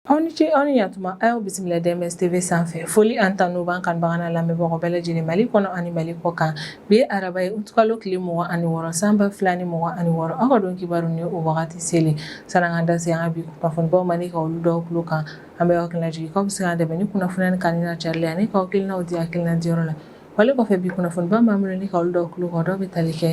Aw ni ce aw ni yantuma a y'aw bisimila DMS TV sanfɛ foli ani tanu b'an kanubagaw n'an lamɛnbagaw bɛɛ lajɛlen Mali kɔnɔ ani Mali kɔkan bi ye araba ye utikalo tile mugan ani wɔɔrɔ san ba fila ni mugan ani wɔɔrɔ aw ka don kibaru ni o wagati selen sani an k'an da se an ka bi kunnafonibaw ma ni ka olu dɔw tulo kan an bɛ aw hakilina jigin k'aw bɛ se k'an dɛmɛ ni kunnafoniya ni kanuni n'a carili ani k'aw hakilinaw di hakilina diyɔrɔ la wale kɔfɛ bi kunnafoniba min b'an bolo ni ka olu dɔw tulo kan o dɔw bɛ tali kɛ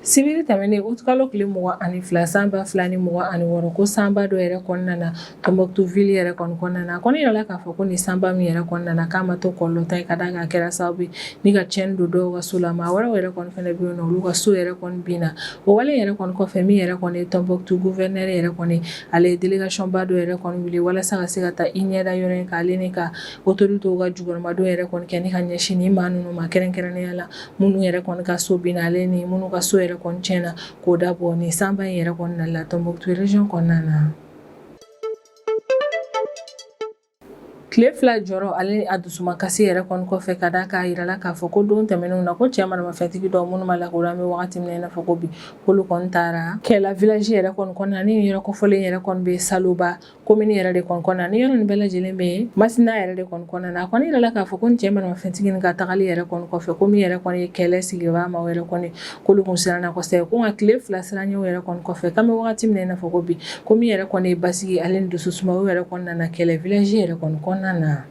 sibiri tɛmɛnen utikalo tile mugan ani fila san ba fila ni mugan ani wɔɔrɔ ko sanba dɔ yɛrɛ kɔni nana Tombouctou ville yɛrɛ kɔni kɔnɔna na a kɔni yirala k'a fɔ ko nin sanba min yɛrɛ kɔni nana k'a ma to kɔlɔlɔntan ye ka d'a kan a kɛra sababu ye ni ka tiɲɛni don dɔw ka so la maa wɛrɛw yɛrɛ kɔni fana bɛ yen nɔ olu ka so yɛrɛ kɔni binna o wale yɛrɛ kɔni kɔfɛ min yɛrɛ kɔni ye Tombouctou gouverneur yɛrɛ kɔni ale ye délégation ba dɔ yɛrɛ kɔni wuli walasa ka se ka taa i ɲɛda yɔrɔ in kan ale ni ka Autorités ka jukɔrɔmadon yɛrɛ kɔni kɛ ni ka ɲɛsin ni maa ninnu ma kɛrɛnkɛrɛnnenya la minnu yɛrɛ kɔni ka so binna ale ni minnu ka so yɛrɛ kɔni tiɲɛna k'o dabɔ nin sanba in yɛrɛ kɔni nali la Tombouctou région kɔnɔna na tile fila jɔrɔ ale a dusumakasi yɛrɛ kɔni kɔfɛ ka d'a kan a jirala k'a fɔ ko don tɛmɛnenw na ko cɛ maramafɛntigi dɔw minnu ma lakodɔn an bɛ waati min na i n'a fɔ ko bi k'olu taara Kɛlɛ village yɛrɛ kɔnɔna na ni yɔrɔ kofɔlen yɛrɛ kɔni bɛ Saloba komini yɛrɛ de kɔni kɔnɔna ni yɔrɔ nin bɛɛ lajɛlen bɛ yen Masina yɛrɛ de kɔni kɔnɔna na a kɔni yirala k'a fɔ ko cɛ maramafɛntigi nin ka tagali yɛrɛ kɔni kɔfɛ ko min yɛrɛ kɔni ye Kɛlɛ sigibaa maa yɛrɛ kɔni k'olu kun siranna kosɛbɛ ko nka tile fila siranɲɛ yɛrɛ kɔni kɔfɛ k'an bɛ wagati min na i n'a fɔ ko bi ko min yɛrɛ kɔni ye basigi ale ni dusu suma o yɛrɛ kɔni nana Kɛlɛ village yɛrɛ kɔni kɔnɔna na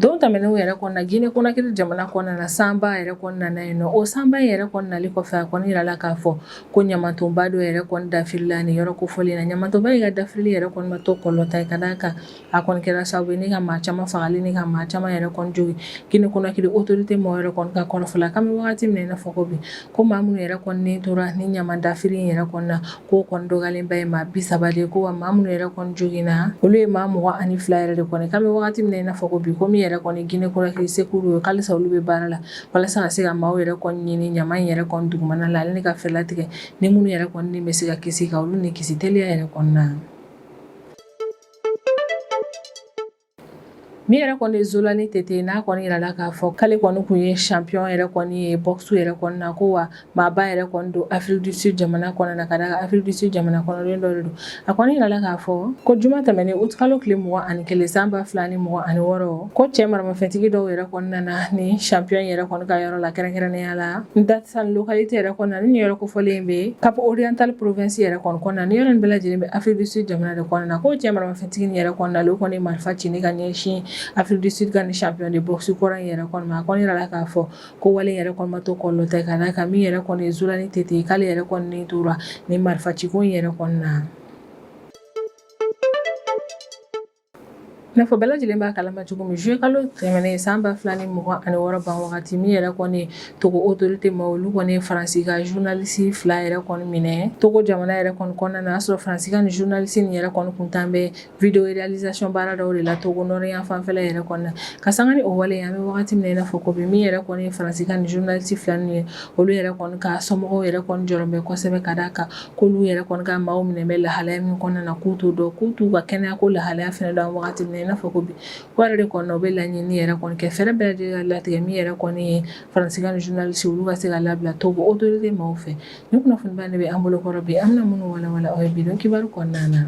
Don tɛmɛnenw yɛrɛ kɔni na Guinée Conakry jamana kɔnɔna na sanba yɛrɛ kɔni nana yen nɔ, o sanba in yɛrɛ kɔni nali kɔfɛ, a kɔni jirala k'a fɔ ko ɲamantonba dɔ yɛrɛ kɔni dafirila nin yɔrɔ kofɔlen in na. Ɲamantonba in ka dafirili yɛrɛ kɔni ma to kɔlɔlɔntan ye, ka d'a kan a kɔni kɛra sababu ye ni ka maa caaman faga ale ni ka maa caaman yɛrɛ kɔni jogin Guinée Conakry autorité mɔgɔw yɛrɛ kɔni ka kɔrɔfɔ la, k'an bɛ wagati min na i n'a fɔ ko bi, Ko maa minnu yɛrɛ kɔni ni tora ni ɲaman dafiri yɛrɛ kɔni na k'o kɔni dɔgɔyalenba ye maa bi saba de ye ko wa maa minnu yɛrɛ kɔni joginna olu ye maa mugan ani fila yɛrɛ de kɔni k'an bɛ waati min na i n'a fɔ ko bi ko min yɛrɛ kɔni Guinée Conakry secours ko halisa olu bɛ baara la walasa ka se ka maaw yɛrɛ kɔni ɲini ɲaman yɛrɛ kɔni dugumana la ale ni ka fɛɛrɛ tigɛ ni minnu yɛrɛ kɔni ni bɛ se ka kisi ka olu ni kisi teliya yɛrɛ kɔni na min yɛrɛ kɔni ye Zolani Tete n'a kɔni yirala k'a fɔ k'ale kɔni kun ye champion yɛrɛ kɔni ye boxe yɛrɛ kɔni na ko wa maaba yɛrɛ kɔni don Afrique du Sud jamana kɔnɔ na ka d'a kan Afrique du Sud jamana kɔnɔden dɔ de don a kɔni yirala k'a fɔ ko juma tɛmɛnen utikalo tile mugan ani kelen san ba fila ni mugan ani wɔɔrɔ ko cɛ maramafɛntigi dɔw yɛrɛ kɔni nana ni champion yɛrɛ kɔni ka yɔrɔ la kɛrɛnkɛrɛnnenya la Mdantsane localité yɛrɛ kɔni na ni nin yɔrɔ kofɔlen bɛ Cap Oriental province yɛrɛ kɔni kɔnɔna na ni yɔrɔ nin bɛɛ lajɛlen bɛ Afrique du Sud jamana de kɔnɔna na ko cɛ maramafɛn Tigi nin yɛrɛ kɔnɔna la u kɔni ye marifa ci ni ka ɲɛsin Afrique du Sud ka nin champion de boxe kɔrɔ in yɛrɛ kɔni ma a kɔni yirala k'a fɔ ko wale in yɛrɛ kɔni ma to kɔlɔlɔ tɛ ka d'a kan min yɛrɛ kɔni ye Zolani Tete ye k'ale yɛrɛ kɔni ni tora nin marifa ciko in yɛrɛ kɔni na Nafɔ bɛɛ lajɛlen b'a kalama cogo min juillet kalo tɛmɛnen san 2026 ban wagati min yɛrɛ kɔni Togo autorité maa olu kɔni ye faransi ka journaliste fila yɛrɛ kɔni minɛ togo jamana yɛrɛ kɔni kɔnɔna na y'a sɔrɔ faransi ka ni journaliste nin yɛrɛ kɔni kun tan bɛ vidéo réalisation baara dɔw de la togo nord yan fanfɛ yɛrɛ kɔnɔna na ka sanga ni o wale an bɛ wagati min na i n'a fɔ ko bi min yɛrɛ kɔni ye faransi ka ni journaliste fila ninnu ye olu yɛrɛ kɔni ka somɔgɔw yɛrɛ kɔni jɔrɔ bɛ kosɛbɛ ka d'a kan k'olu yɛrɛ kɔni ka maaw minɛ bɛ lahalaya min kɔnɔna na k'u t'o dɔn k'u t'u ka kɛnɛyako lahalaya fɛnɛ dɔn wagati min na i n'a fɔ ko bi O yɛrɛ de kɔni u bɛ laɲini yɛrɛ kɔni kɛ fɛɛrɛ bɛɛ lajɛlen ka latigɛ min yɛrɛ kɔni ye faransi ka nin journaliste olu ka se ka labila togo autorité maaw fɛ ni kunnafoniba de bɛ an bolokɔrɔ bi an bɛna minnu walawala aw ye bi kibaru kɔnɔna na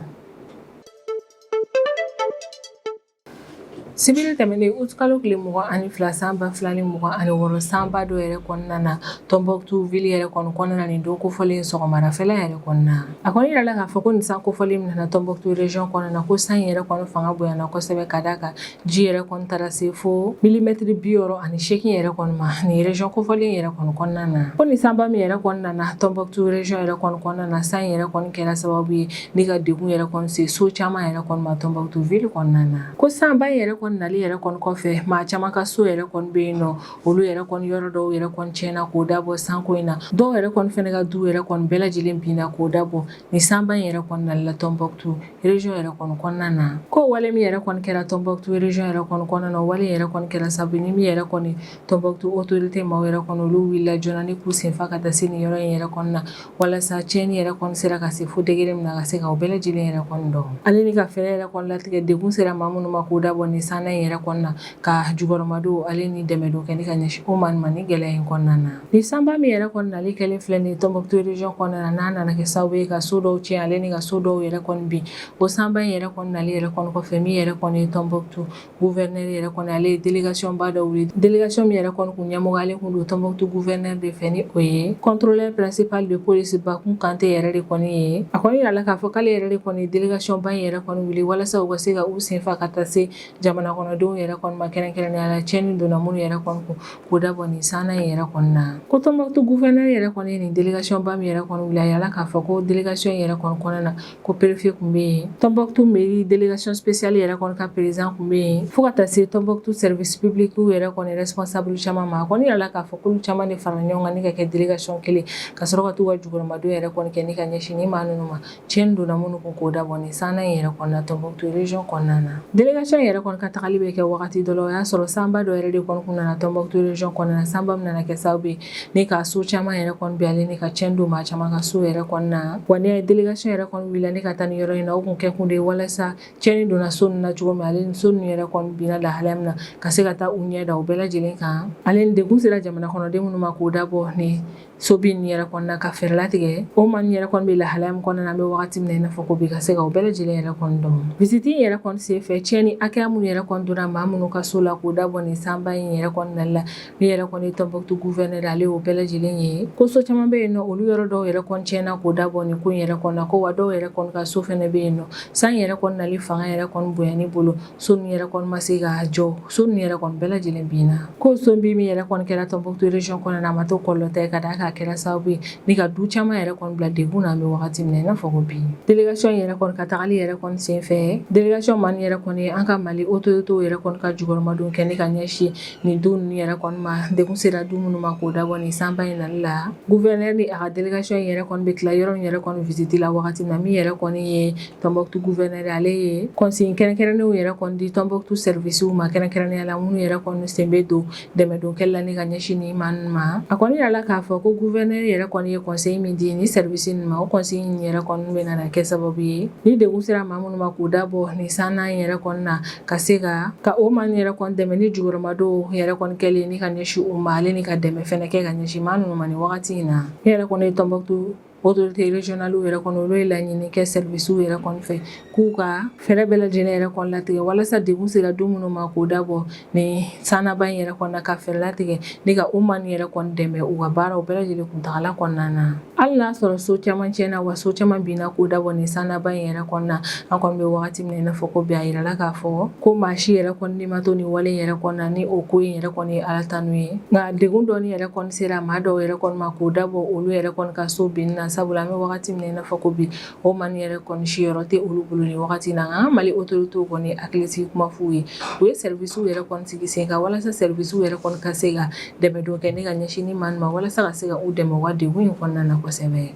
sibiri tɛmɛnen utikalo tile mugan ani fila san ba fila ni mugan ani wɔɔrɔ sanba dɔ yɛrɛ kɔni nana tɔnbukutu ville yɛrɛ kɔnɔna na nin don kofɔlen sɔgɔmada fɛ yɛrɛ kɔnɔna A kɔni yirala k'a fɔ ko nin san kofɔlen min nana Tɔnbukutu region kɔnɔna na ko san in yɛrɛ kɔni fanga bonyana kosɛbɛ ka d'a kan ji yɛrɛ kɔni taara se fo milimɛtiri bi wɔɔrɔ ani seegin yɛrɛ kɔni ma nin region kofɔlen yɛrɛ kɔni kɔnɔna na ko nin sanba min yɛrɛ kɔni nana Tɔnbukutu region yɛrɛ kɔni kɔnɔna na san in yɛrɛ kɔni kɛra sababu ye ni ka degun yɛrɛ kɔni se so caman yɛrɛ kɔni ma Tɔnbukutu ville kɔnɔna na ko sanba in yɛrɛ kɔni nali yɛrɛ kɔni kɔfɛ maa caman ka so yɛrɛ kɔni bɛ yen nɔ olu yɛrɛ kɔni yɔrɔ dɔw yɛrɛ kɔni tiɲɛna k'o dabɔ sanko in na dɔw yɛrɛ kɔni fana ka du yɛrɛ kɔni bɛɛ lajɛlen binna k'o dabɔ ni sanba in yɛrɛ kɔni nali la Tɔnbukutu region yɛrɛ kɔni kɔnɔna na ko wale min yɛrɛ kɔni kɛra Tɔnbukutu region yɛrɛ kɔni kɔnɔna na o wale yɛrɛ kɔni kɛra sabu ni min yɛrɛ kɔni Tɔnbukutu autorité maaw yɛrɛ kɔni olu wulila joona ni k'u senfa ka taa se nin yɔrɔ in yɛrɛ kɔni na walasa tiɲɛni yɛrɛ kɔni sera ka se fo degré min na ka se ka o bɛɛ lajɛlen yɛrɛ kɔni dɔn ale ni ka fɛɛrɛ yɛrɛ kɔni latigɛ degun sera maa minnu ma k'o dabɔ nin sanna in yɛrɛ kɔni na ka jukɔrɔmadon ale ni dɛmɛdon kɛ ka ɲɛsin o ma nin gɛlɛya in kɔnɔna na ni sanba min yɛrɛ kɔni nali kɛlen filɛ nin ye tɔnbukutu region kɔnɔna na n'a nana kɛ sababu ye ka so dɔw tiɲɛ ale ni ka so dɔw yɛrɛ kɔni bin o sanba in yɛrɛ kɔni nali yɛrɛ kɔni kɔfɛ min yɛrɛ kɔni ye tɔnbukutu gouverneur yɛrɛ kɔni ale ye délégation ba dɔ wuli délégation min yɛrɛ kɔni tun ɲɛmɔgɔyalen tun don tɔnbukutu gouverneur de fɛ ni o ye contrôleur principal de police bakun kante yɛrɛ de kɔni ye a kɔni yirala k'a fɔ k'ale yɛrɛ de kɔni délégation ba in yɛrɛ kɔni wuli walasa u ka se ka u senfa ka taa se jamana kɔnɔdenw yɛrɛ kɔni ma kɛrɛnkɛrɛnnenya la tiɲɛni donna minnu yɛrɛ kɔni kun k'o dabɔ nin sanna in yɛrɛ kɔni na ko tɔnbɔkutu gouverneur yɛrɛ kɔni ye nin delegation ba min yɛrɛ kɔni wuli a yirala k'a fɔ ko delegation yɛrɛ kɔni kɔnɔna na ko préfet tun bɛ yen tɔnbɔkutu mairie delegation spéciale yɛrɛ kɔni ka président tun bɛ yen fo ka taa se tɔnbɔkutu service public yɛrɛ kɔni responsable caman ma a kɔni yirala k'a fɔ k'olu caman de farala ɲɔgɔn kan ni ka kɛ delegation kelen ka sɔrɔ ka t'u ka jukɔrɔmadon yɛrɛ kɔni kɛ ni ka ɲɛsin ni maa ninnu ma Cɛnni donna minnu kun k'o dabɔ nin san in yɛrɛ kɔnɔna Tɔnbukutu region kɔnɔna na, délégation in yɛrɛ kɔni ka tagali bɛ kɛ wagati dɔ la, o y'a sɔrɔ sanba dɔ yɛrɛ de kɔni tun nana Tɔnbukutu region kɔnɔna na, sanba min nana kɛ sababu ye ni ka so caman yɛrɛ kɔni bin ale ni ka cɛnni don maa caman ka so yɛrɛ kɔnɔna na, wa n'i y'a ye délégation yɛrɛ kɔni wulila ni ka taa nin yɔrɔ in na, o tun kɛ kun de ye walasa cɛnni donna so ninnu na cogo min ale ni so ninnu yɛrɛ kɔni binna lahalaya min na ka se ka taa u ɲɛ da o bɛɛ lajɛlen kan, ale ni degun sera jamana kɔnɔden minnu ma k'o dabɔ nin so bin in yɛrɛ kɔnɔna ka fɛɛrɛ latigɛ o maa nin yɛrɛ kɔni bɛ lahalaya min kɔnɔna na an bɛ wagati min na i n'a fɔ ko bi ka se ka o bɛɛ lajɛlen yɛrɛ kɔni dɔn visite in yɛrɛ kɔni senfɛ tiɲɛni hakɛya minnu yɛrɛ kɔni donna maa minnu ka so la k'o dabɔ nin sanba in yɛrɛ kɔni nali la min yɛrɛ kɔni ye Tombouctou gouverneur ale y'o bɛɛ lajɛlen ye ko so caman bɛ yen nɔ olu yɔrɔ dɔw yɛrɛ kɔni tiɲɛna k'o dabɔ nin ko in yɛrɛ kɔnɔna ko wa dɔw yɛrɛ kɔni ka so fana bɛ yen nɔ san yɛrɛ kɔni nali fanga yɛrɛ kɔni bonyani bolo So ninnu yɛrɛ kɔni ma se ka jɔ so ninnu yɛrɛ kɔni bɛɛ lajɛlen binna ko so bin min yɛrɛ kɔni kɛra Tɔnbukutu region kɔnɔna na a ma to kɔlɔlɔntan ye ka d'a kan a kɛra sababu ye ni ka du caman yɛrɛ kɔni bila degun na an bɛ wagati min na i n'a fɔ ko bi délégation in yɛrɛ kɔni ka tagali yɛrɛ kɔni senfɛ délégation maa nin yɛrɛ kɔni an ka Mali autorités yɛrɛ kɔni ka jukɔrɔmadon kɛ ni ka ɲɛsin nin du ninnu yɛrɛ kɔni ma degun sera du minnu ma k'o dabɔ nin sanba in nali la gouverneur ni a ka délégation in yɛrɛ kɔni bɛ tila yɔrɔ min yɛrɛ kɔni visite la wagati min na min yɛrɛ kɔni ye Tɔnbukutu gouverneur ale ye consignes kɛrɛnkɛrɛnnenw yɛrɛ kɔni di Tɔnbukutu services ma kɛrɛnkɛrɛnnenya la minnu yɛrɛ kɔni sen bɛ don dɛmɛdonkɛ la ni ka ɲɛsin nin maa ninnu ma a kɔni yirala k'a fɔ ko gouverneur yɛrɛ kɔni ye consigne min di nin services ninnu ma o consigne in yɛrɛ kɔni bɛ na kɛ sababu ye ni degun sera maa minnu ma k'o dabɔ nin sanna in yɛrɛ kɔnɔna na ka se ka ka o maa nin yɛrɛ kɔni dɛmɛ ni jukɔrɔmadon yɛrɛ kɔni kɛlen ni ka ɲɛsin u ma ale ni ka dɛmɛ fɛnɛ kɛ ka ɲɛsin maa ninnu ma wagati in na min yɛrɛ kɔni ye Tɔnbukutu Autorités régionales yɛrɛ kɔni olu ye laɲini kɛ services yɛrɛ fɛ k'u ka fɛɛrɛ bɛɛ lajɛlen yɛrɛ kɔni latigɛ walasa degun sera du minnu ma k'o dabɔ nin sanba in yɛrɛ kɔnɔna ka fɛɛrɛ latigɛ ni ka o maa nin yɛrɛ kɔni dɛmɛ u ka baaraw bɛɛ lajɛlen kuntaala kɔnɔna na hali n'a y'a sɔrɔ so caman cɛnna wa so caman binna k'o dabɔ nin sanba in yɛrɛ kɔnɔna na an kɔni bɛ waati min na i n'a fɔ ko bi a jirala k'a fɔ ko maa si yɛrɛ kɔni ni ma to nin wale yɛrɛ kɔnɔna na ni o ko in yɛrɛ kɔni ye Ala tanu ye nka degun dɔ yɛrɛ sera maa dɔw yɛrɛ kɔni ma k'o dabɔ olu yɛrɛ kɔni ka so binni na sabula an bɛ wagati min na i n'a fɔ ko bi o maa nin yɛrɛ kɔni siyɔrɔ tɛ olu bolo nin wagati na nka an Mali autorités kɔni hakilisigi kuma f'u ye u ye services yɛrɛ kɔni sigi sen kan walasa services yɛrɛ kɔni ka se ka dɛmɛdon kɛ ni ka ɲɛsin nin maaw ma walasa ka se ka u dɛmɛ u ka degun in kɔnɔna na kosɛbɛ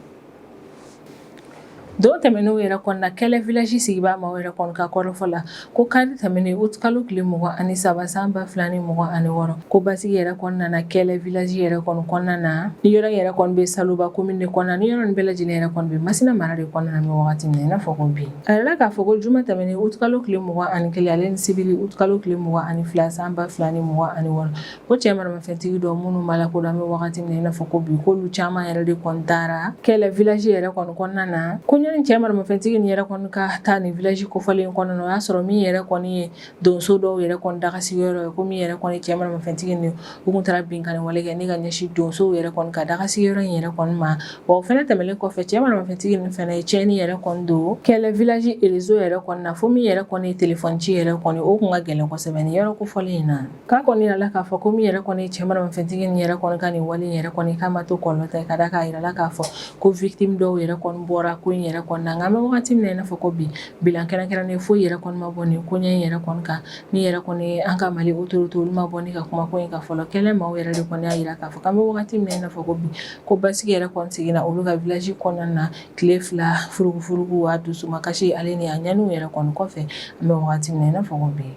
Don tɛmɛnenw yɛrɛ kɔnɔna Kɛlɛ village sigibaa maaw yɛrɛ kɔni ka kɔrɔfɔ la ko kari tɛmɛnen août kalo tile mugan ani saba san ba fila ni mugan ani wɔɔrɔ ko basigi yɛrɛ kɔni nana Kɛlɛ village yɛrɛ kɔnɔna na nin yɔrɔ yɛrɛ kɔni bɛ Saloba commune de kɔnɔna nin yɔrɔ bɛɛ lajɛlen yɛrɛ kɔni bɛ Masina mara de kɔnɔna na wagati min na i n'a fɔ ko bi a yirala k'a fɔ ko juma tɛmɛnen août kalo tile mugan ani kelen ale ni sibiri août kalo tile mugan ani fila san ba fila ni mugan ani wɔɔrɔ Ko cɛ maramafɛntigi dɔ minnu ma lakodɔn an bɛ wagati min i n'a fɔ ko bi k'olu caman yɛrɛ de kɔni taara kɛlɛ village yɛrɛ kɔni kɔnɔna na ko ɲani cɛ maramafɛntigi nin yɛrɛ kɔni ka taa nin village kofɔlen in kɔnɔna na o y'a sɔrɔ min yɛrɛ kɔni ye donso dɔw yɛrɛ kɔni dagasigiyɔrɔ ye ko min yɛrɛ kɔni cɛ maramafɛntigi nin u tun taara binkanni wale kɛ ni ka ɲɛsin donsow yɛrɛ kɔni ka dagasigiyɔrɔ in yɛrɛ kɔni ma wa o fana tɛmɛnen kɔfɛ cɛ maramafɛntigi nin fana ye cɛnni yɛrɛ kɔni don kɛlɛ village réseau yɛrɛ kɔni na fo min yɛrɛ kɔni ye téléphone ci yɛrɛ kɔni o tun ka gɛlɛn kosɛbɛ nin yɔrɔ kofɔlen in na K'a kɔni jira la k'a fɔ ko min yɛrɛ kɔni cɛ maramafɛntigi ni yɛrɛ kɔni ka nin wale yɛrɛ kɔni k'a ma to kɔlɔlɔ ta ka da k'a jira la k'a fɔ ko victime dɔw yɛrɛ kɔni bɔra ko in yɛrɛ kɔni na nka an bɛ waati min na i n'a fɔ ko bi bilan kɛrɛnkɛrɛnnen foyi yɛrɛ kɔni ma bɔ nin koɲɛ in yɛrɛ kɔni kan ni yɛrɛ kɔni an ka Mali autorité olu ma bɔ ni ka kuma ko in kan fɔlɔ kɛlɛ maaw yɛrɛ de kɔni y'a jira k'a fɔ k'an bɛ waati min na i n'a fɔ ko bi ko basigi yɛrɛ kɔni seginna olu ka village kɔnɔna na tile fila furugufurugu a dusumakasi ale ni a ɲani yɛrɛ kɔni kɔfɛ an bɛ waati min na i n'a fɔ ko bi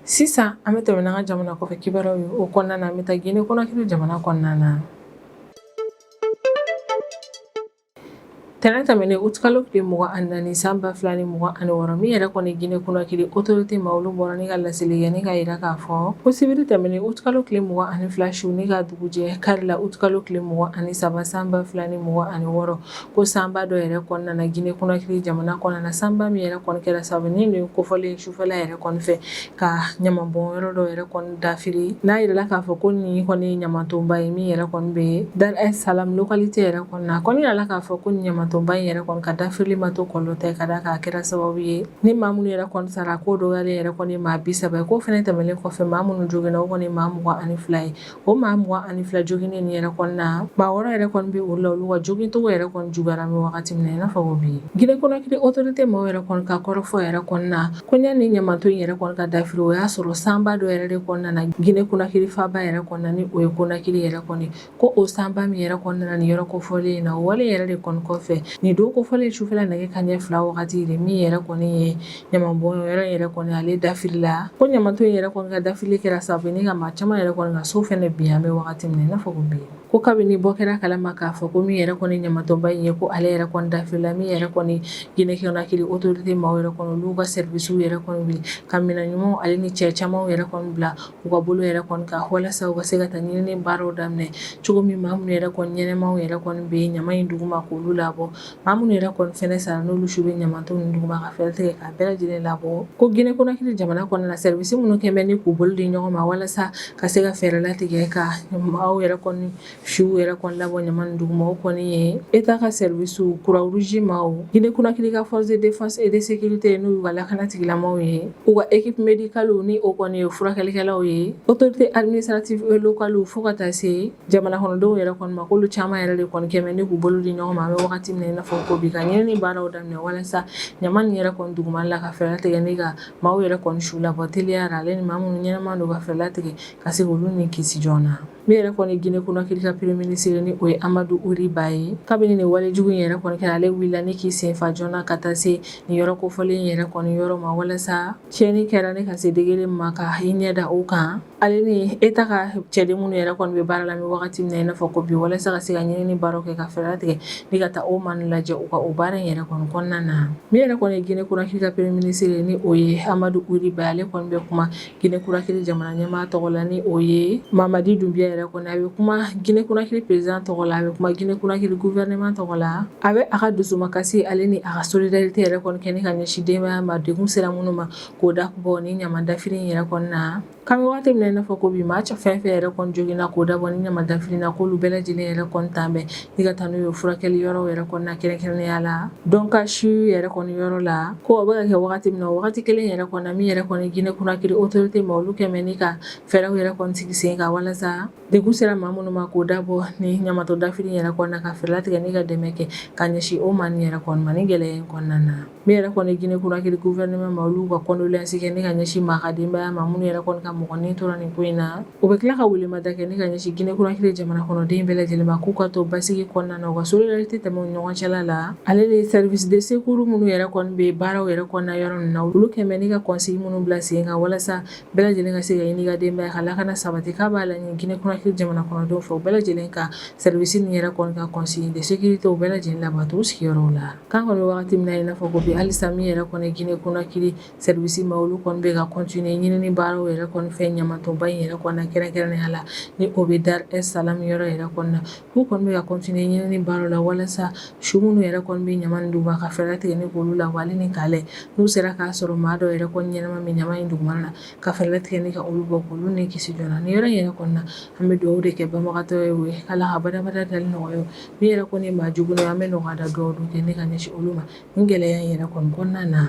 Sisan an bɛ tɛmɛ n'an ka jamana kɔfɛ kibaruyaw ye o kɔnɔna na an bɛ taa Guinée Conakry jamana kɔnɔna na tɛnɛn tɛmɛnen utikalo tile mugan ni naani san ba fila ni mugan ni wɔɔrɔ min yɛrɛ kɔni Guinée Conakry autorité maaw olu bɔra ni ka laseli kɛ ni k'a jira k'a fɔ ko sibiri tɛmɛnen utikalo tile mugan ni fila su ni ka dugujɛ kari la utikalo tile mugan ni saba san ba fila ni mugan ni wɔɔrɔ ko sanba dɔ yɛrɛ kɔni nana Guinée Conakry jamana kɔnɔna na, sanba min yɛrɛ kɔni kɛra sababu ni nin don kofɔlen in sufɛla yɛrɛ kɔni fɛ, ka ɲamanbɔn yɔrɔ dɔ yɛrɛ kɔni dafiri, n'a jira la k'a fɔ ko nin kɔni ye ɲamantonba ye min yɛrɛ kɔni bɛ Dar es Salam localité yɛrɛ kɔnɔna na, a kɔni jira la k'a fɔ ko ɲamantonba in yɛrɛ kɔni ka dafirili ma to kɔlɔlɔ tɛ, ka d'a kan a kɛra sababu ye ni maa minnu yɛrɛ kɔni sara, a ko dɔgɔyalen yɛrɛ kɔni ye maa 30 ye, k'o fana tɛmɛnen kɔfɛ, maa minnu joginna o kɔni ye maa 22 ye. O maa mugan ni fila joginnen in yɛrɛ kɔni na maa wɔɔrɔ yɛrɛ kɔni bɛ olu la olu ka jogincogo yɛrɛ kɔni juguyara an bɛ wagati min na i n'a fɔ ko bi Guinée Conakry autorité maaw yɛrɛ kɔni ka kɔrɔfɔ yɛrɛ kɔni na ko ɲani ɲamanton in yɛrɛ kɔni ka dafiri o y'a sɔrɔ sanba dɔ yɛrɛ de kɔni nana Guinée Conakry faaba yɛrɛ kɔnɔna ni o ye Conakry yɛrɛ kɔni ko o sanba min yɛrɛ kɔni nana nin yɔrɔ kofɔlen in na o wale yɛrɛ de kɔni kɔfɛ nin don kofɔlen sufɛ nɛgɛ kanɲɛ fila wagati de min yɛrɛ kɔni ye ɲamanbɔn yɔrɔ yɛrɛ kɔni ale dafirila ko ɲamanton in yɛrɛ kɔni ka dafirili kɛra sababu ni ka maa caman yɛrɛ kɔni ka so fɛnɛ bin an bɛ wagati min na i n'a fɔ ko bi ko kabini bɔ kɛra a kalama k'a fɔ ko min yɛrɛ kɔni ɲamantonba in ye ko ale yɛrɛ kɔni dafirila min yɛrɛ kɔni Guinée Conakry autorité maaw yɛrɛ kɔni olu ka service yɛrɛ kɔni wuli ka minɛn ɲumanw ale ni cɛ camanw yɛrɛ kɔni bila u ka bolo yɛrɛ kɔni kan walasa u ka se ka taa ɲinini baaraw daminɛ cogo min maa minnu yɛrɛ kɔni ɲɛnɛmaw yɛrɛ kɔni bɛ ɲaman in duguma k'olu labɔ Maa minnu yɛrɛ kɔni fana sara n'olu su bɛ ɲamaton nin duguma ka fɛɛrɛ tigɛ k'a bɛɛ lajɛlen labɔ ko Guinée Conakry jamana kɔnɔna na service minnu kɛn bɛ ni k'u bolo di ɲɔgɔn ma walasa ka se ka fɛɛrɛ latigɛ ka maaw yɛrɛ kɔni suw yɛrɛ kɔni labɔ ɲama nin duguma o kɔni ye État ka services Croix Rouge maaw Guinée Conakry ka forces de défense et de sécurité n'o y'u ka lakana tigilamaw ye u ka équipe médicale ni o kɔni ye furakɛlikɛlaw ye autorité administrative et locale fo ka taa se jamana kɔnɔdenw yɛrɛ kɔni ma k'olu caman yɛrɛ de kɔni kɛn bɛ ni k'u bolo di ɲɔgɔn ma an bɛ wagati min na i n'a fɔ ko bi ka ɲinini baaraw daminɛ walasa ɲama nin yɛrɛ kɔni duguma la ka fɛɛrɛ latigɛ ni ka maaw yɛrɛ kɔni su labɔ teliya la ale ni maa minnu ɲɛnama don ka fɛɛrɛ latigɛ ka se k'olu ni kisi joona min yɛrɛ kɔni Guinée Conakry ka premier ministre ni o ye Amadu Uri Ba ye kabini nin wale jugu in yɛrɛ kɔni kɛra ale wulila ni k'i senfa joona ka taa se nin yɔrɔ kofɔlen yɛrɛ kɔni yɔrɔ ma walasa tiɲɛni kɛra ni ka se degré min ma ka i ɲɛ da o kan Ale ni État ka cɛden minnu yɛrɛ kɔni bɛ baara la an bɛ wagati min na i n'a fɔ ko bi walasa ka se ka ɲinini baaraw kɛ ka fɛɛrɛ latigɛ ni ka taa o maa ninnu lajɛ u ka o baara in yɛrɛ kɔni kɔnɔna na min yɛrɛ kɔni ye Guinée Conakry ka premier ministre ni o ye Amadu Uri Ba ale kɔni bɛ kuma Guinée Conakry jamana ɲɛmaa tɔgɔ la ni o ye Mamadi Dunbiya yɛrɛ kɔni a bɛ kuma Guinée Conakry président tɔgɔ la a bɛ kuma Guinée Conakry gouvernement tɔgɔ la a bɛ a ka dusumakasi ale ni a ka solidarité yɛrɛ kɔni kɛ ni ka ɲɛsin denbaya ma degun sera minnu ma k'o dabɔ ni ɲama dafiri in yɛrɛ kɔni na k'an bɛ wagati min na i n'a fɔ ko bi maa fɛn fɛn yɛrɛ kɔni joginna k'o dabɔ ni ɲama dafiri na k'olu bɛɛ lajɛlen yɛrɛ kɔni tan bɛ ni ka taa n'u ye furakɛli yɔrɔ yɛrɛ kɔni na kɛrɛnkɛrɛnnenya la Donka CHU yɛrɛ kɔni yɔrɔ la ko o bɛ ka kɛ wagati min na o wagati kelen yɛrɛ kɔni na min yɛrɛ kɔni Guinée Conakry autorité maa olu kɛn bɛ ni ka fɛɛrɛw yɛrɛ kɔni sigi sen kan walasa degun sera maa minnu ma k'o dabɔ ni ɲama dafiri yɛrɛ kɔni na ka fɛɛrɛ latigɛ ni ka dɛmɛ kɛ ka ɲɛsin o maa nin yɛrɛ kɔni ma nin gɛlɛya in kɔnɔna na Min yɛrɛ kɔni Guinée Conakry gouvernement maa olu ka condoléances kɛ ni ka ɲɛsin maa ka denbaya ma minnu yɛrɛ kɔni ka mɔgɔ ni tora nin ko in na, u bɛ tila ka welemada kɛ ni ka ɲɛsin Guinée Conakry jamana kɔnɔden bɛɛ lajɛlen ma k'u ka to basigi kɔnɔna na u ka solidarité tɛmɛ u ni ɲɔgɔn cɛla la, ale ni services de secours minnu yɛrɛ kɔni bɛ baaraw yɛrɛ kɔnɔna yɔrɔ ninnu na, olu kɛlen bɛ ni ka consignes minnu bila sen kan walasa bɛɛ lajɛlen ka se ka i n'i ka denbaya ka lakana sabati k'a b'a laɲini Guinée Conakry jamana kɔnɔdenw fɛ u bɛɛ lajɛlen ka service nin yɛrɛ kɔni ka consignes de sécurité u bɛɛ lajɛlen labato u sigiyɔrɔw la. K'an kɔni bɛ wagati min na i n'a fɔ ko bi halisa min yɛrɛ kɔni Guinée Conakry service maa olu kɔni bɛ ka continuer ɲinini baaraw yɛrɛ kɔni fɛ ɲamatonba in yɛrɛ kɔni na kɛrɛnkɛrɛnnenya la ni o bɛ Dar es Salam yɔrɔ yɛrɛ kɔni na k'u kɔni bɛ ka continuer ɲinini baaraw la walasa su minnu yɛrɛ kɔni bɛ ɲama nin duguma ka fɛɛrɛ latigɛ ni k'olu labɔ ale ni k'a lajɛ n'u sera k'a sɔrɔ maa dɔw yɛrɛ kɔni ɲɛnama min ɲama in dugumana na ka fɛɛrɛ latigɛ ni ka olu bɔ k'olu ni kisi joona nin yɔrɔ in yɛrɛ kɔni na an bɛ dugawu de kɛ banabagatɔw ye o ye Ala k'a da nɔgɔya ye min yɛrɛ kɔni maa jugu an bɛ nɔgɔya da dugawu kɛ ni ka ɲɛsin olu ma nin gɛlɛya in yɛrɛ kɔni kɔnɔna na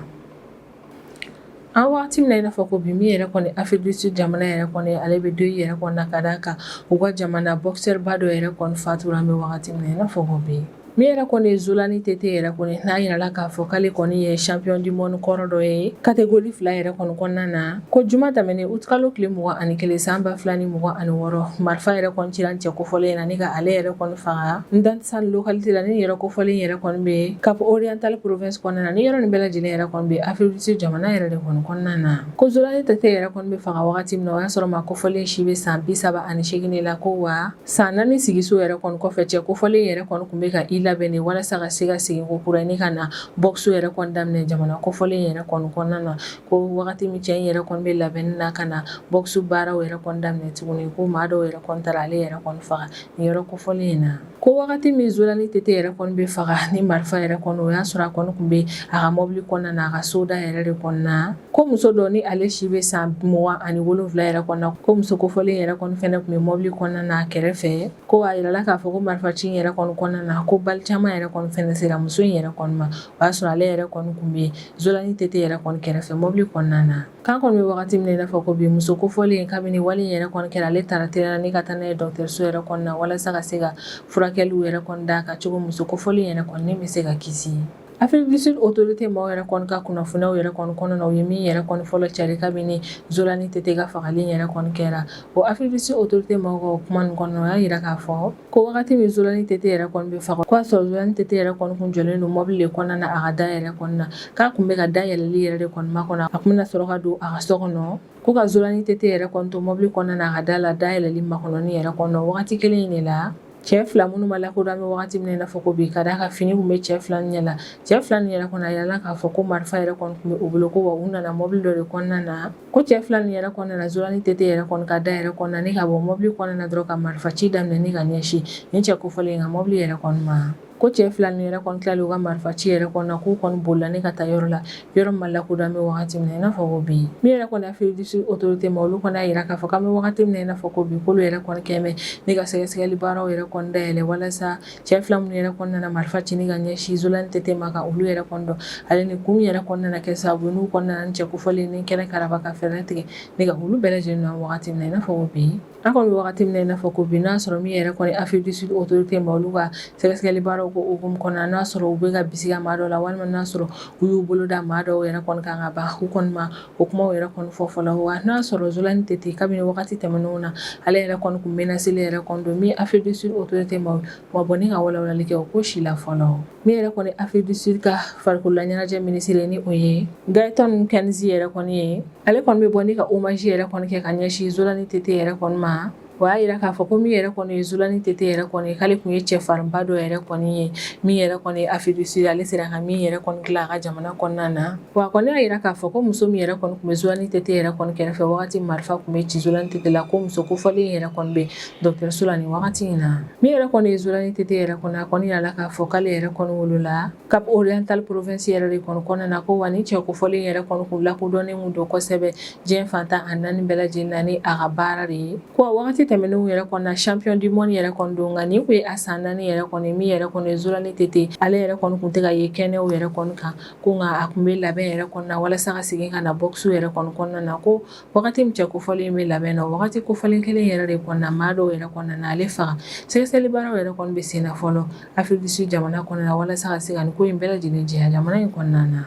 an waati min n'a fɔ ko bi min yɛrɛ kɔni Afrique du Sud jamana yɛrɛ kɔni ale bɛ deuil yɛrɛ kɔnɔ ka d'a kan u ka jamana boxeur ba dɔ yɛrɛ kɔni fatura an bɛ wagati min i n'a fɔ ko bi min yɛrɛ kɔni ye Zolani Tete yɛrɛ kɔni n'a yirala k'a fɔ k'ale kɔni ye champion du monde kɔrɔ dɔ ye catégorie fila yɛrɛ kɔni kɔnɔna na Ko juma tɛmɛnen uti kalo tile mugan ani kelen san ba fila ni mugan ani wɔɔrɔ marifa yɛrɛ kɔni cira cɛ kofɔlen in na ni ka ale yɛrɛ kɔni faga Mdantsane localité la nin yɔrɔ kofɔlen yɛrɛ kɔni bɛ Cap Oriental province kɔnɔna na ni yɔrɔ nin bɛɛ lajɛlen yɛrɛ kɔni bɛ Afrique du Sud jamana yɛrɛ de kɔni kɔnɔna na ko Zolani Tete yɛrɛ kɔni bɛ faga wagati min o y'a sɔrɔ maa kofɔlen si bɛ san bi saba ani segin de la ko wa san naani sigiso yɛrɛ kɔni kɔfɛ cɛ kofɔlen yɛrɛ kɔni tun bɛ ka i labɛn de walasa ka se ka segin kokura ni ka na boxe yɛrɛ kɔni daminɛ jamana kofɔlen yɛrɛ kɔni kɔnɔna na Ko wagati min cɛ yɛrɛ kɔni bɛ labɛn na ka na boxe baaraw yɛrɛ kɔni daminɛ tuguni ko maa dɔw yɛrɛ kɔni taara ale yɛrɛ faga ni yɔrɔ kofɔlen in na ko wagati min Zolani Tete yɛrɛ bɛ faga ni marifa yɛrɛ kɔni o y'a sɔrɔ a kɔni tun bɛ a ka mɔbili kɔnɔna na a ka soda yɛrɛ de kɔnɔna na ko muso dɔ ni ale si bɛ san mugan ani wolonwula yɛrɛ kɔnɔ ko muso kofɔlen yɛrɛ kɔni fana tun bɛ mɔbili kɔnɔna na a kɛrɛfɛ ko a yirala k'a fɔ ko marifa ci yɛrɛ kɔnɔna na ko bali caman yɛrɛ sera muso in yɛrɛ ma o y'a sɔrɔ ale yɛrɛ kɔni tun bɛ Zolani Tete yɛrɛ kɔni kɛrɛfɛ mobili kɔnɔna na k'an kɔni bɛ wagati min n'a fɔ ko bi muso kofɔlen kabini wale yɛrɛ kɔni kɛra ale taara teliya ni ka taa n'a ye dɔgɔtɔrɔso yɛrɛ kɔnɔna na walasa ka se ka furakɛliw yɛrɛ kɔni d'a kan cogo muso kofɔlen yɛrɛ kɔni bɛ se ka kisi ye Afrique du Sud autorité maaw yɛrɛ kɔni ka kunnafoniw yɛrɛ kɔni kɔnɔna na u ye min yɛrɛ kɔni fɔlɔ cari kabini Zolani Tete ka fagali yɛrɛ kɔni kɛra o Afrique du Sud autorité mɔgɔw ka kuma kɔnɔ y'a jira k'a fɔ ko wagati min zolani tete yɛrɛ kɔni bɛ faga k'a sɔrɔ zolani tete yɛrɛ kɔni kun jɔlen don mɔbili de kɔnɔna na a ka da yɛrɛ kɔni na k'a kun bɛ ka da yɛlɛli yɛrɛ de kɔni makɔnɔ a kun bɛna sɔrɔ ka don a ka so kɔnɔ ko ka zolani tete yɛrɛ kɔni to mɔbili kɔnɔna na a ka da la da yɛlɛli makɔnɔni yɛrɛ kɔnɔ wagati kelen in de la cɛ fila minnu ma lakodɔn an bɛ wagati min n'a fɔ ko bi ka d'a kan fini tun bɛ cɛ fila ɲɛ la cɛ fila nin yɛrɛ kɔni a yirala k'a fɔ ko marifa yɛrɛ kɔni tun bɛ u bolo ko wa u nana mɔbili dɔ de kɔnɔna na Ko cɛ fila nin yɛrɛ kɔni nana Zolani Tete yɛrɛ kɔni ka da yɛrɛ kɔni na ni ka bɔ mobili kɔnɔna na dɔrɔn ka marifa ci daminɛ ni ka ɲɛsin nin cɛ kofɔlen ka mɔbili yɛrɛ kɔni ma ko cɛ fila nin yɛrɛ kɔni tilalen u ka marifa ci yɛrɛ kɔni na k'u kɔni bolila ni ka taa yɔrɔ la yɔrɔ ma lakodɔn an bɛ wagati min n'a fɔ bi min yɛrɛ kɔni Afrique du Sud autorité maa olu kɔni y'a jira k'a fɔ k'an bɛ wagati min n'a fɔ ko bi k'olu yɛrɛ kɔni kɛmɛ ni ka sɛgɛsɛgɛli baaraw yɛrɛ kɔni dayɛlɛ walasa Cɛ fila minnu yɛrɛ kɔni nana marifa ci ni ka ɲɛsin Zolani Tete ma ka olu yɛrɛ kɔni dɔn ale ni kun min yɛrɛ kɔni nana kɛ sababu ye n'u kɔni nana nin cɛ kofɔlen in ni kɛnɛkaraba ka fɛɛrɛ tigɛ ni ka olu bɛɛ lajɛlen na wagati min na i n'a fɔ ko bi an kɔni bɛ wagati min na i n'a fɔ ko bi n'a sɔrɔ min yɛrɛ kɔni Afrique du Sud autorité maa olu ka sɛgɛsɛgɛli baaraw ko hukumu kɔnɔna na n'a sɔrɔ u bɛ ka bisigiya maa dɔw la walima n'a sɔrɔ u y'u bolo da maa dɔw yɛrɛ kɔni kan ka ban u kɔni ma O kumaw yɛrɛ kɔni fɔ fɔlɔ wa n'a sɔrɔ Zolani Tete kabini wagati tɛmɛnenw na ale yɛrɛ kɔni tun menacélen yɛrɛ kɔni don min ye Afrique du Sud autorité maaw ma bɔ ni ka walawalali kɛ o ko si la fɔlɔ min yɛrɛ kɔni Afrique du Sud ka farikolola ɲɛnajɛ minisiri ni o ye Gayton Kenzie yɛrɛ kɔni ye ale kɔni bɛ bɔ ni ka hommage yɛrɛ kɔni kɛ ka ɲɛsin Zolani Tete yɛrɛ kɔni ma O y'a jira k'a fɔ ko min yɛrɛ kɔni ye Zolani Tete yɛrɛ kɔni k'ale tun ye cɛfarinba dɔ yɛrɛ kɔni ye min yɛrɛ kɔni ye Afrique du Sud ale sera ka min yɛrɛ kɔni dilan a ka jamana kɔnɔna na wa a kɔni y'a jira k'a fɔ ko muso min yɛrɛ kɔni tun bɛ Zolani Tete yɛrɛ kɔni kɛrɛfɛ wagati marifa tun bɛ ci Zolani Tete la ko muso kofɔlen yɛrɛ kɔni bɛ dɔgɔtɔrɔso la nin wagati in na min yɛrɛ kɔni ye Zolani Tete yɛrɛ kɔni a kɔni yirala k'a fɔ k'ale yɛrɛ kɔni wolola Cap Oriental province yɛrɛ de kɔni kɔnɔna na ko wa ni cɛ kofɔlen yɛrɛ kɔni tun lakodɔnnen don kosɛbɛ diɲɛ fan tan ni naani bɛɛ lajɛlen na ni a ka baara de ye ko waati tɛmɛnenw yɛrɛ kɔni na champion du monde yɛrɛ kɔni don nka nin tun ye a san naani yɛrɛ kɔni min yɛrɛ kɔni ye Zolani Tete ale yɛrɛ kɔni tun tɛ ka ye kɛnɛw yɛrɛ kɔni kan ko nka a tun bɛ labɛn yɛrɛ kɔni na walasa ka segin ka na boxe yɛrɛ kɔni kɔnɔna na ko Wagati min cɛ kofɔlen bɛ labɛn na o wagati kofɔlen kelen yɛrɛ de kɔnɔna maa dɔw yɛrɛ kɔni nana ale faga sɛgɛsɛgɛlibaaraw yɛrɛ kɔni bɛ sen na fɔlɔ Afrique du Sud jamana kɔnɔna na walasa ka se ka nin ko in bɛɛ lajɛlen jɛya jamana in kɔnɔna na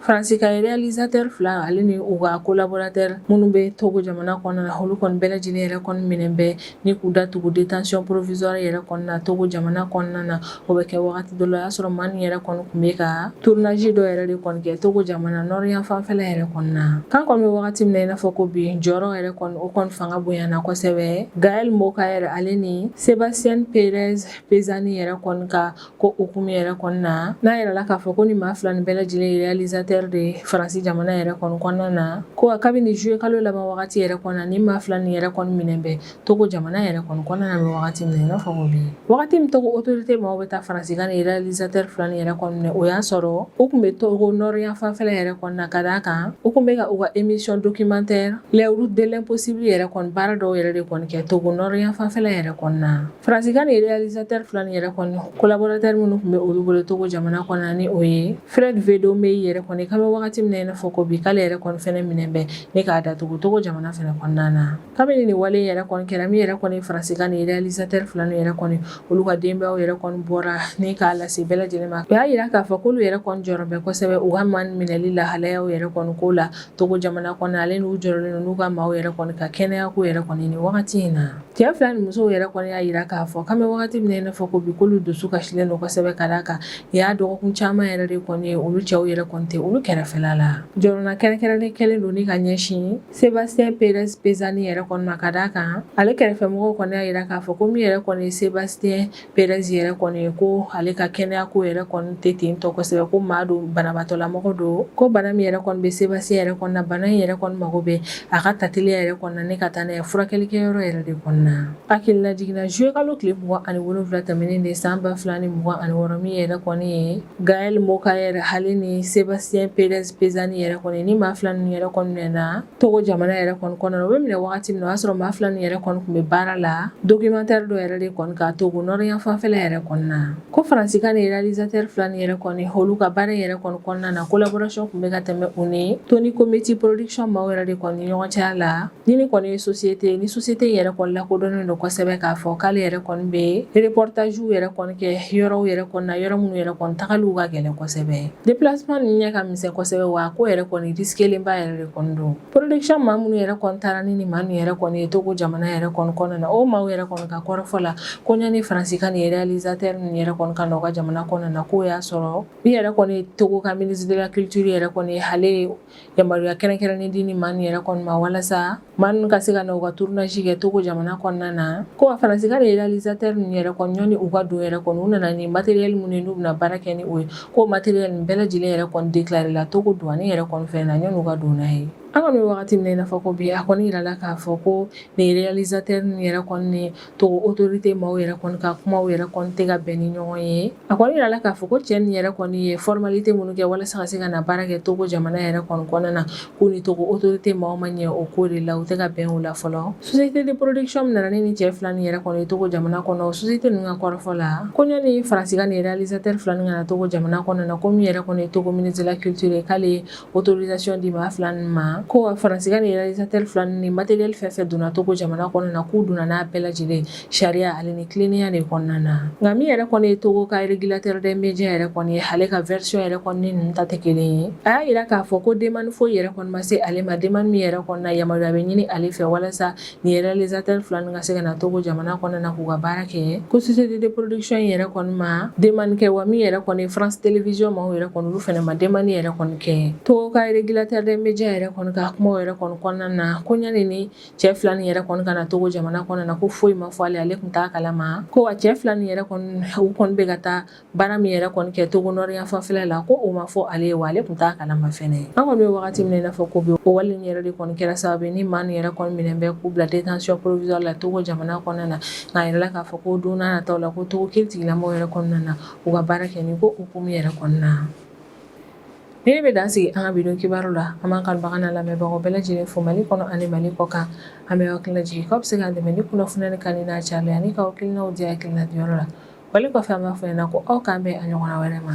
Faransi ka réalisateur fila ale ni u ka collaborateur minnu bɛ Togo jamana kɔnɔna na olu kɔni bɛɛ lajɛlen yɛrɛ kɔni minɛnen bɛ Ni k'u datugu détention provisoire yɛrɛ kɔnɔna na Togo jamana kɔnɔna na o bɛ kɛ waati dɔ la o y'a sɔrɔ maa nin yɛrɛ kɔni tun bɛ ka tournage dɔ yɛrɛ de kɔni kɛ Togo jamana nord yan fanfɛla yɛrɛ kɔnɔna na k'an kɔni bɛ wagati min na i n'a fɔ ko bi jɔrɔ yɛrɛ kɔni o kɔni fanga bonyana kosɛbɛ Gaël Mocaër ale ni Sébastien Perez Pezzani yɛrɛ kɔni ka ko hukumu yɛrɛ kɔnɔna na n'a yirala k'a fɔ ko nin maa fila nin bɛɛ lajɛlen ye réalisateur de ye Faransi jamana yɛrɛ kɔni kɔnɔna na ko kabini zuye kalo laban wagati yɛrɛ kɔni na nin maa fila nin yɛrɛ kɔni minɛnen bɛ Togo jamana yɛrɛ kɔni kɔnɔna na an bɛ wagati min na i n'a fɔ bi wagati min Togo autorité maaw bɛ taa Faransi ka nin réalisateur fila nin yɛrɛ kɔni minɛ o y'a sɔrɔ u tun bɛ Togo nord yan fanfɛla yɛrɛ kɔni na ka d'a kan u tun bɛ ka u ka émission documentaire Les routes de l'impossible yɛrɛ kɔni baara dɔw yɛrɛ de kɔni kɛ Togo nord yan fanfɛla yɛrɛ kɔni na Faransi ka nin réalisateur fila nin yɛrɛ kɔni collaborateur minnu tun bɛ olu bolo Togo jamana kɔnɔna ni o ye Fred Vedomey yɛrɛ kɔni k'an bɛ wagati min na i n'a fɔ ko bi k'ale yɛrɛ kɔni fɛnɛ minɛnen bɛ ni k'a datugu Togo jamana fana kɔnɔna na kabini nin wale yɛrɛ kɔni kɛra min yɛrɛ kɔni Faransi ka nin réalisateur fila nin yɛrɛ kɔni olu ka denbayaw yɛrɛ kɔni bɔra ni k'a lase bɛɛ lajɛlen ma o y'a jira k'a fɔ k'olu yɛrɛ kɔni jɔrɔlen bɛ kosɛbɛ u ka maa minɛli lahalayaw yɛrɛ kɔni ko la Togo jamana kɔnɔ ale n'u jɔrɔlen don n'u ka maaw yɛrɛ kɔni ka kɛnɛya ko yɛrɛ kɔni nin wagati in na Cɛ fila nin musow yɛrɛ kɔni y'a jira k'a fɔ k'an bɛ wagati min na i n'a fɔ ko bi k'olu dusu kasilen don kosɛbɛ ka da kan nin y'a dɔgɔkun caman yɛrɛ de kɔni ye olu cɛw yɛrɛ kɔni tɛ olu kɛrɛfɛla la jɔrɔna kɛrɛnkɛrɛnnen kɛlen don ni ka ɲɛsin Sébastien Perez Pezzani yɛrɛ kɔni ma ka d'a kan ale kɛrɛfɛmɔgɔw kɔni y'a jira k'a fɔ ko min yɛrɛ kɔni ye Sébastien Perez yɛrɛ kɔni ye ko ale ka kɛnɛya ko yɛrɛ kɔni tɛ ten tɔ kosɛbɛ ko maa don banabaatɔlamɔgɔ don ko bana min yɛrɛ kɔni bɛ Sébastien yɛrɛ kɔni na bana in yɛrɛ kɔni mago bɛ a ka ta teliya yɛrɛ kɔni na ne ka taa n'a ye furakɛlikɛyɔrɔ yɛrɛ de kɔni na hakililajigin na juillet kalo tile mugan ni wolonwula tɛmɛnen de san ba fila ni mugan ni wɔɔrɔ min yɛrɛ kɔni ye Gaël Mocaër ale ni Sébastien Perez Pezzani yɛrɛ kɔni nin maa fila ninnu yɛrɛ kɔni minɛna Togo jamana yɛrɛ kɔni kɔnɔna na u bɛ minɛ wagati min na o y'a sɔrɔ maa fila ninnu yɛrɛ kɔni tun bɛ baara la documentaire dɔ yɛrɛ de kɔni kan Togo Nord yanfan fɛla yɛrɛ kɔni na ko faransika nin réalisateur fila ninnu yɛrɛ kɔni olu ka baara yɛrɛ kɔni kɔnɔna na collaboration tun bɛ ka tɛmɛ u ni Tony Comiti production maaw yɛrɛ de kɔni ɲɔgɔn cɛya la ni nin kɔni ye société ni société yɛrɛ kɔni lakodɔnnen don kosɛbɛ k'a fɔ k'ale yɛrɛ kɔni bɛ reportagew yɛrɛ kɔni kɛ yɔrɔw yɛrɛ kɔni na yɔrɔ minnu yɛrɛ kɔni tagaliw ka gɛlɛn kosɛbɛ déplacement ninnu ɲɛ ka misɛn kosɛbɛ wa ko yɛrɛ kɔni risquelenba yɛrɛ don production maa minnu yɛrɛ taara ni nin maa ninnu yɛrɛ kɔni ye togo jamana yɛrɛ kɔnɔna na o maaw yɛrɛ kɔni ka kɔrɔfɔ la ko ɲani faransika nin réalisateur ninnu yɛrɛ kɔni ka n'u ka jamana kɔnɔna na k'o y'a sɔrɔ min yɛrɛ kɔni togo ka ministre de la culture yɛrɛ kɔni ale ye yamaruya kɛrɛnkɛrɛnnen di nin maa ninnu yɛrɛ kɔni ma walasa maa ka se ka na u ka tournage kɛ togo jamana kɔnɔna na ko wa faransika réalisateur ninnu yɛrɛ kɔni ɲani u ka don yɛrɛ kɔni u nana ni matériel minnu ye n'u bɛna baara kɛ ni o ye ko matériel nin bɛɛ lajɛlen yɛrɛ kɔni déclaré la togo douane yɛrɛ kɔni fɛ na ɲani u ka don n'a ye an kɔni bɛ wagati min na n'a fɔ ko bi a kɔni yirala k'a fɔ ko nin réalisateur ninnu yɛrɛ kɔni ni togo autorité maaw yɛrɛ kɔni ka kuma yɛrɛ kɔni tɛ ka bɛn ni ɲɔgɔn ye a kɔni yirala k'a fɔ ko cɛ nin yɛrɛ kɔni ye formalité minnu kɛ walasa ka se ka na baara kɛ togo jamana yɛrɛ kɔni kɔnɔna na k'u ni togo autorité maaw ma ɲɛ o ko de la u tɛ ka bɛn o la fɔlɔ société de production min nana ni nin cɛ fila nin yɛrɛ kɔni ye togo jamana kɔnɔ société ninnu ka kɔrɔfɔ la ko ɲani faransika nin réalisateur fila nin ka na togo jamana kɔnɔna ko min yɛrɛ kɔni ye togo ministre de la culture k'ale autorisation di maa fila nin ma ko wa faransika nin réalisateur fila ni matériel fɛn fɛn donna togo jamana kɔnɔna na k'u donna n'a bɛɛ lajɛlen sariya ale ni tilennenya de kɔnɔna na nka min yɛrɛ kɔni ye togo ka régulateur des médias yɛrɛ kɔni ye ale ka version yɛrɛ kɔni ni ninnu ta tɛ kelen ye a y'a yira k'a fɔ ko demande foyi yɛrɛ kɔni ma se ale ma demande min yɛrɛ kɔni na yamaruya bɛ ɲini ale fɛ walasa nin réalisateur fila ninnu ka se ka na togo jamana kɔnɔna na k'u ka baara kɛ ko société de production in yɛrɛ kɔni ma demande kɛ wa min yɛrɛ kɔni France Télévision maaw yɛrɛ kɔni olu fana ma demande yɛrɛ kɔni kɛ togo ka régulateur des médias yɛrɛ kɔni ka kumaw yɛrɛ kɔni kɔnɔna na ko ɲani ni cɛ fila nin yɛrɛ kɔni ka na togo jamana kɔnɔna na ko foyi ma fɔ ale ale tun t'a kalama ko wa cɛ fila nin yɛrɛ u kɔni bɛ ka taa baara min yɛrɛ kɔni kɛ togo Nord yanfan fɛla ko o ma fɔ ale ye wa ale tun t'a kalama fɛnɛ an kɔni bɛ wagati min na n'a fɔ ko bi o wale yɛrɛ de kɔni kɛra sababu ye ni maa nin yɛrɛ kɔni minɛn bɛ k'u bila détention provisoire la togo jamana kɔnɔna na nka a yirala k'a fɔ ko don nataw la ko togo kiiritigɛlaw yɛrɛ kɔni na na u ka baara kɛ ko hukumu yɛrɛ kɔnɔna na Nin bɛ dan sigi an ka bi don kibaru la an b'an kanubaga n'an lamɛnbagaw bɛɛ lajɛlen fo mali kɔnɔ ani mali kɔ kan an bɛ aw hakili lajigin k'aw bɛ se k'an dɛmɛ ni kunnafoni in kanu n'a cari ye ani k'aw hakilinaw di hakilina diyɔrɔ la wali kɔfɛ an b'a fɔ ɲɛna na ko aw k'an bɛn a ɲɔgɔnna wɛrɛ ma